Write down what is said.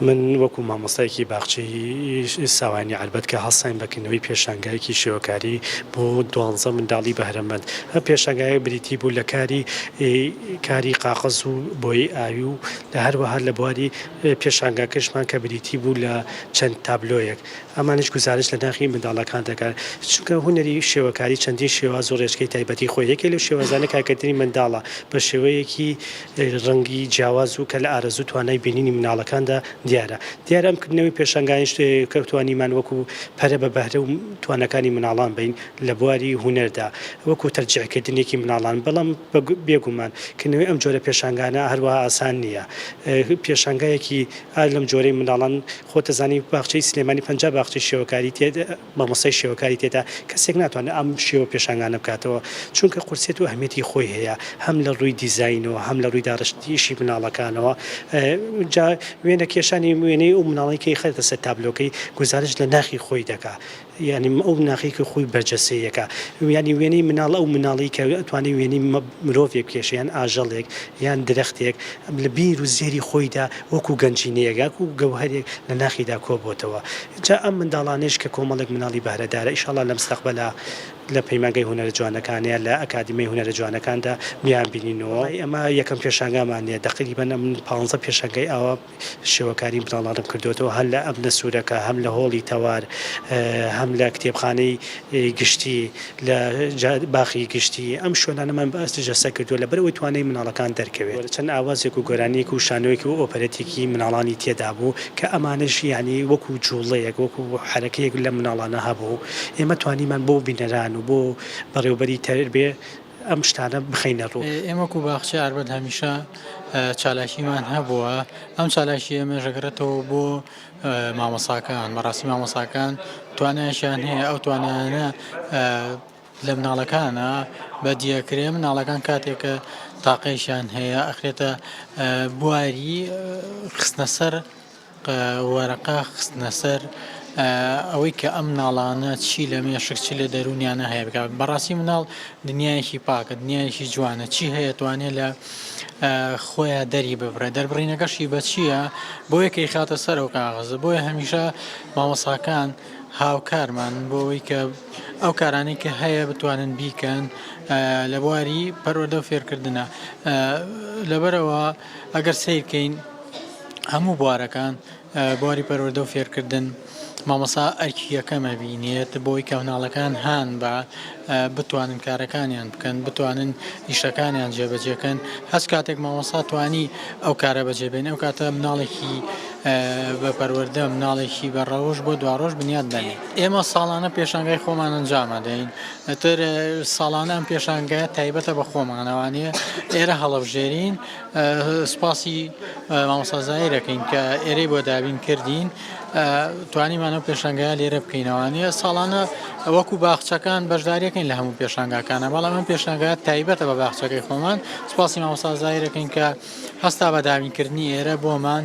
من وەکو مامۆستایەکی باخچەی ساوایانی عەربەت کە هەستاین بە کردنەوەی پێشانگایەکی شێوەکاری بۆ دوانزە منداڵی بەهرەمەند ئە پێشانگایە بریتی بوو لە کاری کاری قاقەز و بۆیەی ئاوی و لە هەروەها لە بواری پێشانگاکەشمان کە بریتی بوو لە چەند تابلۆیەک ئەمانش گوزارش لە ناخی منداڵەکان دەکەن چونکە هونەری شێوەکاری چەندین شێواز و ڕێچکەی تایبەتی خۆی یەکێ لەو شێوازانە کارکردنی منداڵە بە شێوەیەکی ڕەنگی جیاواز و کە لە ئارەزوو توانای بینینی مناڵەکاندا دیارە. دیارە ئەم کردنەوەی پێشانگایان شتێکە کە توانیمان وەکو پەرە بە بەهرە و تواناکانی مناڵان بەین لە بواری هونەردا وەکو تەرجیع کردنێکی مناڵان بەڵام بێ گومان کردنەوەی ئەم جۆرە پێشانگانە هەروەها ئاسان نیە پێشانگایەکی ئا لەم جۆرەی مناڵان خۆت ئەزانی باخچەی سلێمانی پەنجا باخچەی شێوەکاری تێدا مامۆستای شێوەکاری تێدا کەسێک ناتوانێت ئەم شێوە پێشانگانە بکاتەوە چونکە قورسیەت و ئەهمیەتی خۆی هەیە هەم لە ڕووی دیزاینەوە هەم لە ڕووی داڕشتنیشی مناڵەکانەوە جا وێنە کێشانی وێنەی ئەو مناڵەی کە خەرێتە سەر تابلۆکەی گوزارش لە ناخی خۆی دەکا یانی ئەو ناخی کە خۆی بەرجەستەیەکە یانی وێنەی مناڵ ئەو مناڵی کە ئەتوانێت وێنەی مرۆڤێک کێشە یان ئاژەڵێک یان درەختێک لە بیر و زێری خۆیدا وەکو گەنجینەیەک یاکو گەوهەرێک لە ناخیدا کۆبۆتەوە جا ئەم منداڵانەیش کە کۆمەڵێک منداڵی بەهرەدارە ئیشاڵا لە مستەقبەلا لە پەیمانگای هونەرە جوانەکان یا لە ئەکادیمیای هونەرە جوانەکاندا بیانبینینەوە. بەڵای ئەمە یەکەم پێشانگامان نیە دەقریبەن ئەمن پانزە پێشانگای ئاوا شێوەکاری منداڵانم کردۆتەوە هەر لە ئەبنە سورەکە هەم لە هۆڵی تەوار هەم لە کتێبخانەی گشتی. لە باخی گشتی ئەم شوێنانەمان بە ئاستی جەستە کردووە لەبەر ئەوەی توانای منداڵەکان دەرکەوێت چەند ئاوازێک و گۆرانیەک و شانۆیەک و ئۆپەرێتێکی منداڵانی تێدا بوو کە ئەمانەش یانی وەکو جوڵەیەک وەکو حەرەکەیەک لە منداڵانە هەبوو ئێمە توانیمان بۆ بینەران و بۆ بەڕێوەبەری تەربێ ئەم شتانە بخەینە ڕوو. ئێمە وەکو باخچەی ئاربەت هەمیشە چالاکیمان هەبووە ئەم چالاکیە ئێمەش دەگەڕێتەوە بۆ مامۆساکان بەڕاستی مامۆساکان توانایشیان هەیە ئەو توانایانە لە مناڵەکانە بە دیەکرێ مناڵەکان کاتێکە تاقیشیان هەیە ئەخرێتە بواری خستنە سەر وەرەقا خستنە سەر ئەوەی کە ئەم ناڵانە چی لە مێشک چی لە دەرونیانە هەیە بکات بەڕاستی مناڵ دنیایەکی پاکە دنیایەکی جوانە چی هەیە توانێت لە خۆیا دەری ببرێ دەربڕینەکەشی بە چییە بۆ یەکە یخاتە سەر ئەو کاغەزە بۆیە هەمیشە مامۆساکان هاوکارمان بۆ ئەوی کە ئەو کارانی کە هەیە بتوانن بیکەن لە بواری پەروەدە و فێرکردە لەبەرەوە ئەگەر سیرکەین هەموو بوارەکان بواری پەروەردە و فێرکردن مامۆستا ئەرکی یەکەم ئەبینێت بۆی کە مناڵەکان هان بە بتوانن کارەکانیان بکەن بتوانن ئیشەکانیان جێبەجێکەن هەست کاتێک مامۆستا توانی ئەو کارە بەجێبێن ئەو کاتە مناڵێکی بە پەروەردە مناڵێکی بە ڕەوش بۆ دواڕۆژ بنیاد دەنێت ئێمە ساڵانە پێشنگای خۆمان ئەنجامە دەین ئەتر ساڵانە ئەم پێشنگایە تایبەتە بە خۆمانەوانەیە ئێرە هەڵەبژێرین سوپاسی مامۆستا زاهیر دەکەین کە ئێرەی بۆ دابین کردین توانیمان ئەو پێشنگای لێرە بکەینەوانە ساڵانە وەکو باخچەکان بەشداریەکەین لە هەموو پێشنگاکانە بەڵام ئەم پێشنگا تایبەتە بە باخچەکەی خۆمان سوپاسی مامۆستا زاهیرەکەین کە هەستا بە دابینکردنی ئێرە بۆمان